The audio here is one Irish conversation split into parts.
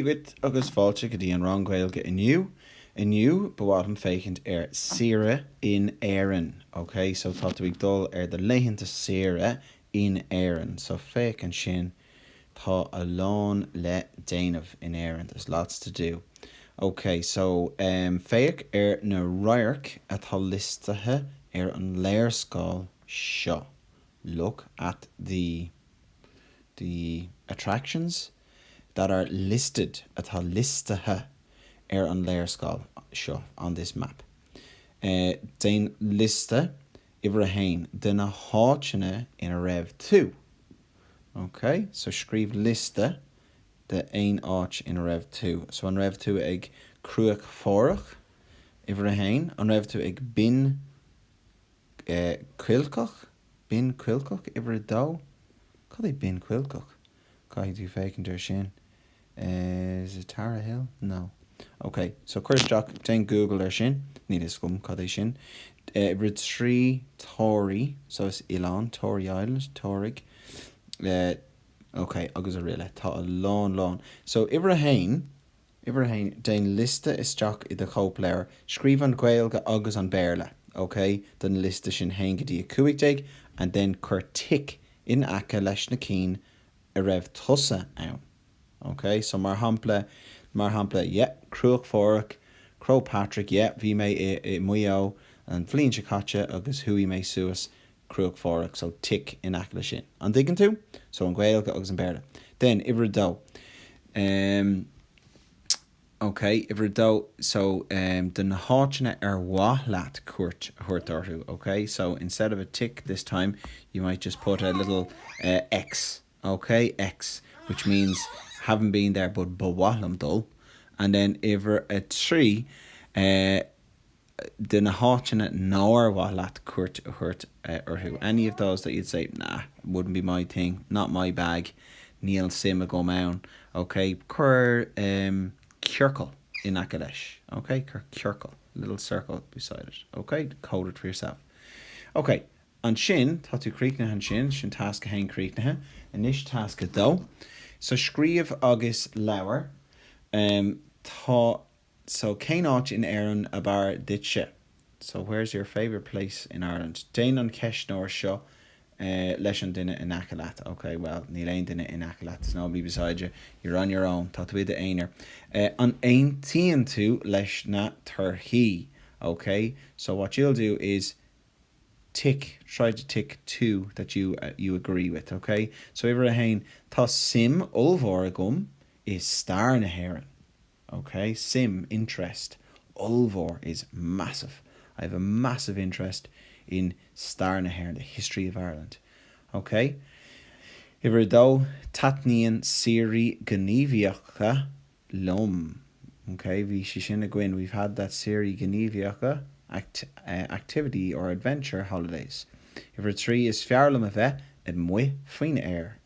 dhuit agus fáilte go dtí an rang Gaeilge inniu. Inniu, ba mhaith liom féachaint ar saoire in Éirinn, ok? So, tá tú ag dul ar do laethanta saoire in Éirinn. So, féach ansin, tá a lán le déanamh in Éirinn, there's lots to do. Ok, so, em, féach ar na radhairc atá liostaithe ar an léarscáil seo. Look at the, the attractions. that are listed atá liostaithe ar an léarscáil seo on this map déan liosta uimhir a haon de na háiteanna ina raibh tú ok so scríobh liosta d'aon áit ina raibh tú so an raibh tú ag Cruach Phádraig? uimhir a haon an raibh tú ag Binn Chuilceach? Binn Chuilceach? uimhir a dó cad é Binn Chuilceach? Caithfidh tú féachaint air sin. Is it Tara Hill? No. Ok, so cuir isteach, déan Google air sin, níl a fhios agam cad é sin. Uimhir a trí, Tory, so is oileán, Tory Island, Toraigh. Ok, agus araile. Tá a lán lán. So uimhir a haon, Uimhir a haon, Déan liosta isteach i do chóipleabhar, scríobh an Ghaeilge agus an Béarla, OK, den liosta sin 1 go dtí 15 and then cuir tic in aice leis na cinn a raibh tusa ann. OK, so mar shampla, mar shampla, yeah, Cruach Phádraig, Croagh Patrick, yeah, bhí mé i, i Maigh Eo an bhliain seo caite agus chuaigh mé suas Cruach Phádraig so tic in aice leis sin. An dtuigeann tú? So an Ghaeilge agus an Béarla. Then, uimhir a dó, em, ok, uimhir a dó, so, em, de na háiteanna ar mhaith leat cuairt a thabhairt orthu, ok, so instead of a tic this time, you might just put a little, eh, X, ok, X, which means, haven't been there but ba mhaith liom dul. And then uimhir a trí, eh, de na háiteanna nár mhaith leat cuairt a thabhairt orthu any of those that you'd say, nah, wouldn't be my thing, not my bag níl suim agam ann ok cuir ciorcal in aice leis ok cuir ciorcal little circle beside it ok code it for yourself ok ansin tá tú críochnaithe ansin sin tasc a haon críochnaithe anois tasc a dó so scríobh agus labhair tá a so cén áit in Éirinn ab fhearr duitse? so where's your favourite place in Ireland? Déan an ceistneoir seo leis an duine in aice leat, ok, well, níl aon duine in aice leat, there's nobody beside you, you're on your own, tá tú i d'aonar. An aontaíonn tú leis na torthaí? Ok, so what you'll do is tick, try to tick two that you, you agree with, ok? So uimhir a haon, Tá suim ollmhór agam i stair na hÉireann. OK, suim, interest, ollmhór is massive. I have a massive interest in stair na hÉireann, the history of Ireland. OK? Uimhir a dó, taitníonn saoirí gníomhaíocha liom. OK, bhí sé sin againn, we've had that saoirí gníomhaíocha, act, activity or adventure holidays. Uimhir a trí, is fearr liom a bheith amuigh faoin aer.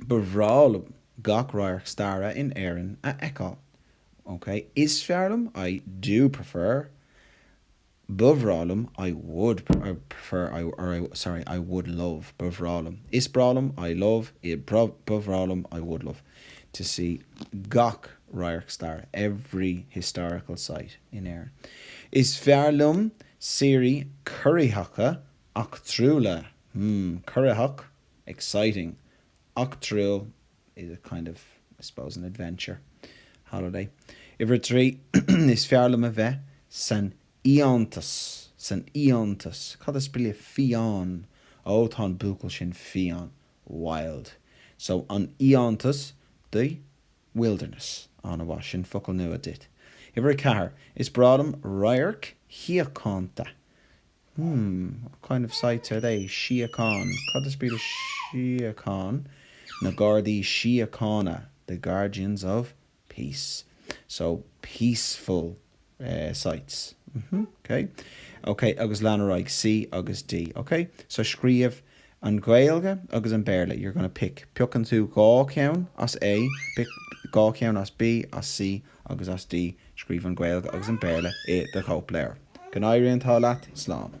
Ba bhreá liom gach radharc staire in Éirinn a fheiceáil. OK. Is fearr liom I do prefer Ba bhreá liom I would prefer I or sorry I would love Ba bhreá liom Is breá liom I love Ba bhreá liom I would love to see gach radharc staire every historical site in Éirinn. Is fearr liom saoirí corraitheacha eachtrúla hmm corraitheach exciting, eachtrúil, is a kind of, I suppose, an adventure, holiday. Uimhir a trí, Is fearr liom a bheith san fhiántas, san fhiántas. Cad is brí le fiáin? Ó, tá an buachaill sin fiáin, wild. So, an fhiántas, the wilderness. An-mhaith, sin focal nua duit. Uimhir a ceathair, Is breá liom radhairc shíochánta, Hmm, what kind of sights are they, síocháin, cad is brí le síocháin? na Gardaí Síochána, the guardians of peace, so peaceful sights, mhm, ok, ok, agus lean ar aghaidh, C agus D, ok, so scríobh an Ghaeilge agus an Béarla, you're going to pick, piocann tú dhá cheann as A, pick dhá cheann as B, as C agus as D, scríobh an Ghaeilge agus an Béarla i do chóipleabhar. Go n-éirí an t-ádh leat. Slán.